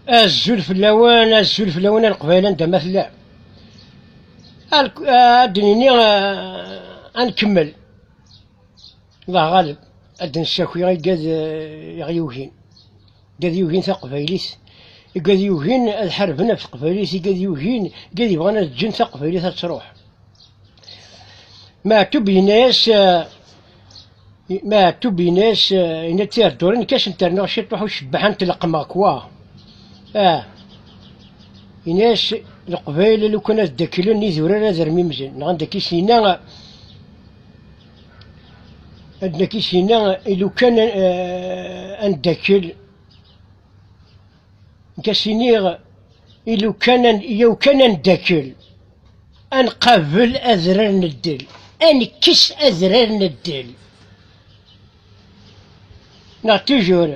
Azul fell-awen, azul fell-awen a Leqbayel anda ma tellam. Ad d-nini ad nkemmel. Allah ɣaleb, ad d-nessaki igad iɣ yugin. Igad yugin taqbaylit, igad yugin ad ḥarben ɣef teqbaylit, igad yugin, igad yebɣan ad ǧǧen taqbaylit ad truḥ. Meɛtub yenna-yas. Maɛtub in-as, in a tirdurin nekk a sent-rnuɣ ciṭuḥ u cebbaḥ a ntelqmeɣ kwa. Ah! In-as, Leqbayel lukan ad ddaklen idurar ad rmimzen, neɣ ad d-naki syin-a, ad d-naki syin-a, i lukan ad ndakkel. Nka-s-iniɣ, yaw kan a neddakel, a nqabel adrar n ddel, a nekkes adrar n ddel. Neɣ tujur,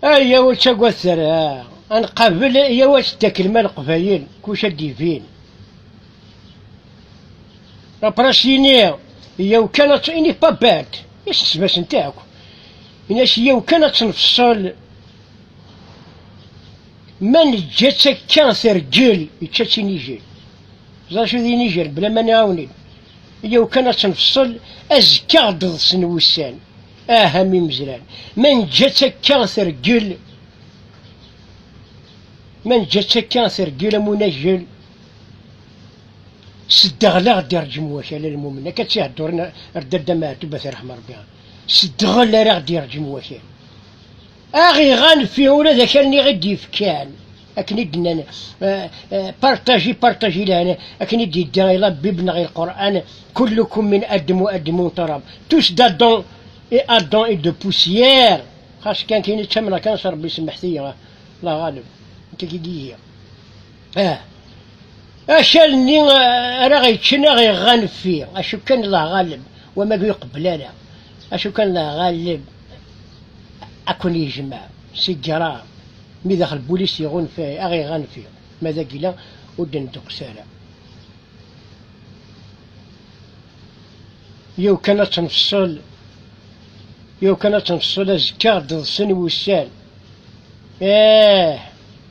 ayaw ur ttagadet ara, a nqabel, yaw ad teddaklem a Leqbayel, kullec ad d-ibin. Après s-iniɣ, yaw kan, il n'est pas bête. Isxesem-asent akk. Ini-as yiw kan ad tenfṣel. Ma neǧǧa-tt akka tergel, ičča-tt inijel. Ẓer acu d inijel, bla ma nɛawen-it. Yiw kan ad tenfṣel, azekka ad d-ḍsen wussan. Ah am imezran. Ma neǧǧa-tt akka tergel, ma neǧǧa-tt akka tergel am unajel. Seddeɣl aɣ-d irǧem wakal a lmumen, akka ttihedduren ar Dada Meɛtub at iṛeḥm Ṛebbi. Seddeɣl ara aɣ-d irǧem wakal. Aɣ iɣan fi ula d akal niɣ i d-yefkan akken i d-nnan partaji partaji lehna akken i d-yedda i la Bible neɣ i Lqur'an kullukum min adem wa adem wa turab tous d'Adam et Adam est de poussière xas kan kini ttamneɣ kan s Ṛebbi semmeḥet-iyi la ɣaleb nekk akka i d-igiɣ Ah. Akal-nni ah, ara ɣ-yeččen aɣ iɣɣan ffi, acu kan d aɣaleb, wama ur iqebbel ara, acu kan d aɣaleb ad ken-yejmeɛ s igeṛṛa, mi daxel bulis iɣunfa aɣ iɣɣan ffi, ma d agila ur d-ndeqqes ara. Yiw kan ad tenfṣel, yiw kan ad tenfṣel azekka ɣ-d-ḍsen wussan. Eeh!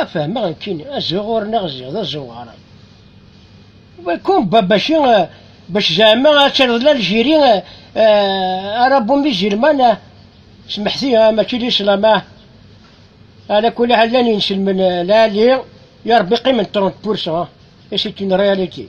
A fehmeɣ nekkini, azuɣur-nneɣ ziɣ d azuɣer. Kum bac bac zeɛma ad taliḍ d Aljiri, ara bumi zilman, smeḥti mačči d islam. Ala kulli llan inselmen lali, ya Rebbi qqimen trente pour cent et c'est une réalité.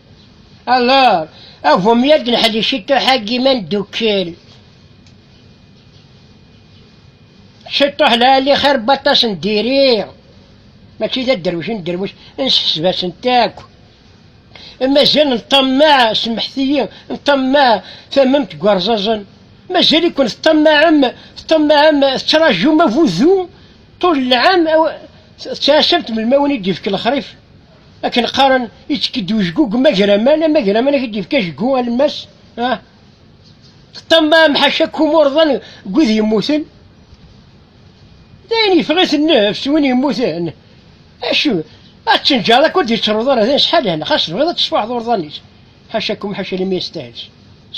Alors, avum yad neḥdi ciṭuḥ-agi ma ndukkel. Ciṭuḥ lɛali xir n waṭas n diri, mačči d aderwic n derwic, nsefseb-asent akk. Mazal nṭammaɛ, semḥet-iyi, nṭammaɛ tamemt n warẓaẓen. Mazal-iken teṭṭammaɛem, teṭṭammaɛem, tettraǧum avudu ṭul lɛam, tettɛassamt melmi i wen-id-ifk lexṛif. Akken qqaren, ittekk-d ujgu deg umagraman, amagraman ak d-yefk ajgu alemmas, ah, ṭṭamma amḥac akk umurḍan deg wid yemmuten, d ayen yeffeɣ-it nnefs win yemmuten, acu, ad tenǧareḍ akk ur d-yettruḍ ara d ayen sḥalan, xas tebɣiḍ ad tesfuḥeḍ urḍan-is. Ḥacakum ḥaca imi yestahel.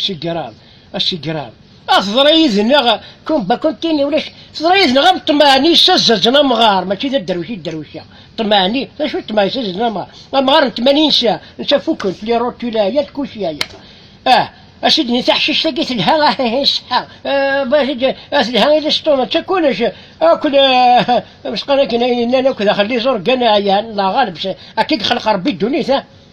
Sigraḍ, asigraḍ. Ah, teḍra yid-neɣ, kumba kuntini ulac, teḍra yid-neɣ am ṭṭmeɛni ssazazen amɣar, mačči d adderwic i dderwiceɣ. Ṭṭmeɛni, d acu ṭṭmeɛ ssazazen amɣar? Amɣar n tmanin sa, netta fukken, tli rotula, yal kulci aya. Ah, asidni taḥcict-agi telha, ahihi ṣeḥḥa, ah, telha i liṣṭuna, d takunac, akk amesqan akken ayen llan akk daxel d iẓurgan ɛyan, neɣ ɣaleb, akka i yexleq Rebbi ddunit.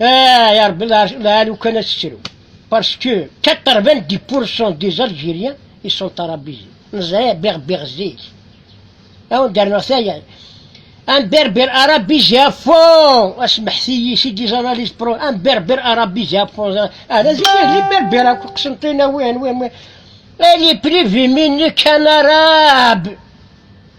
Ah, ya Rabbi, la lukan as-ttru. Parce que 90% des Algériens, ils sont arabisés. Neẓra berber zik. Awen derneɣ tayal. Un berber arabisé à fond. Asmeḥti-yi si des analyses pro. Un berber arabisé à fond. Ala zik, li berber akk qsentin awen, wen, wen. Elle est privée, mais qu'un arabe.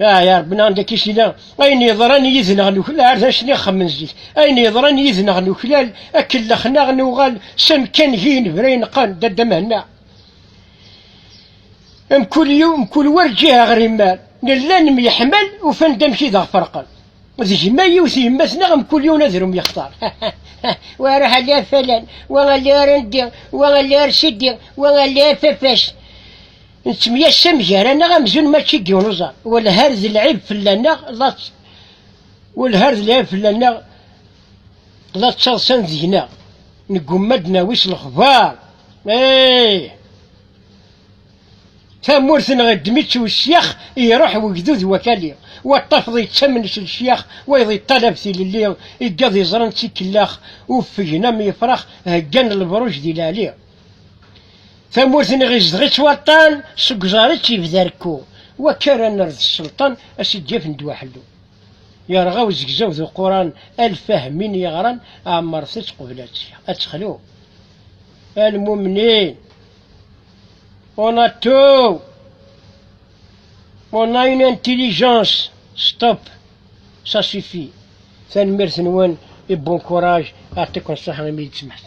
Ah ya Rebbi neɣ nekk isina ayen yeḍran yid-neɣ nuklal ar d acni xemmen zik ayen yeḍran yid-neɣ nuklal akellex neɣ nuɣal s amekkan gi inebra ineqqan d adda Mehenna mkul yiw mkul war ǧiha ɣer imal nella nemyeḥmal ufan-d amek i daɣ ferqen d gma yiwet yemma tneɣ mkul yiwen adrum yextar wa aruḥ alli ar falan wa alli ar andi wa alli ar sidi wa alli ar fafac Nettemyasam gar-aneɣ amzun mačči n yiwen uẓar. Walhar d lɛib fell-aneɣ la walhar d lɛib fell-aneɣ la ttaḍsan deg-neɣ. Neggumma ad d-nawi s lexbar. Eeh! Tamurt-nneɣ iddem-itt usyax, iruḥ wegdud wakali. Wa ṭṭafeḍ yettamen s lecyax, wayeḍ yeṭṭalab tilelli, iggaḍ iẓran d tikellax, uffgen am yefrax, heggan lebruj di leɛli. Tamurt-nni ɣ-izdeɣ-itt waṭṭan, seg uẓar-itt yebda rekku, wakka ara nerr d sselṭan a s-id-yafen ddwa ḥellu. Yerɣa uzegzaw d uquran alef ahemmin yeɣran ɛemmret-tt qbel ad texlu. A lmumnin, on a tout, on a une intelligence, stop, ça suffit, tanemmirt-nwen et bon courage, Yeɛṭiken ṣṣeḥa imi i d-tsemḥet.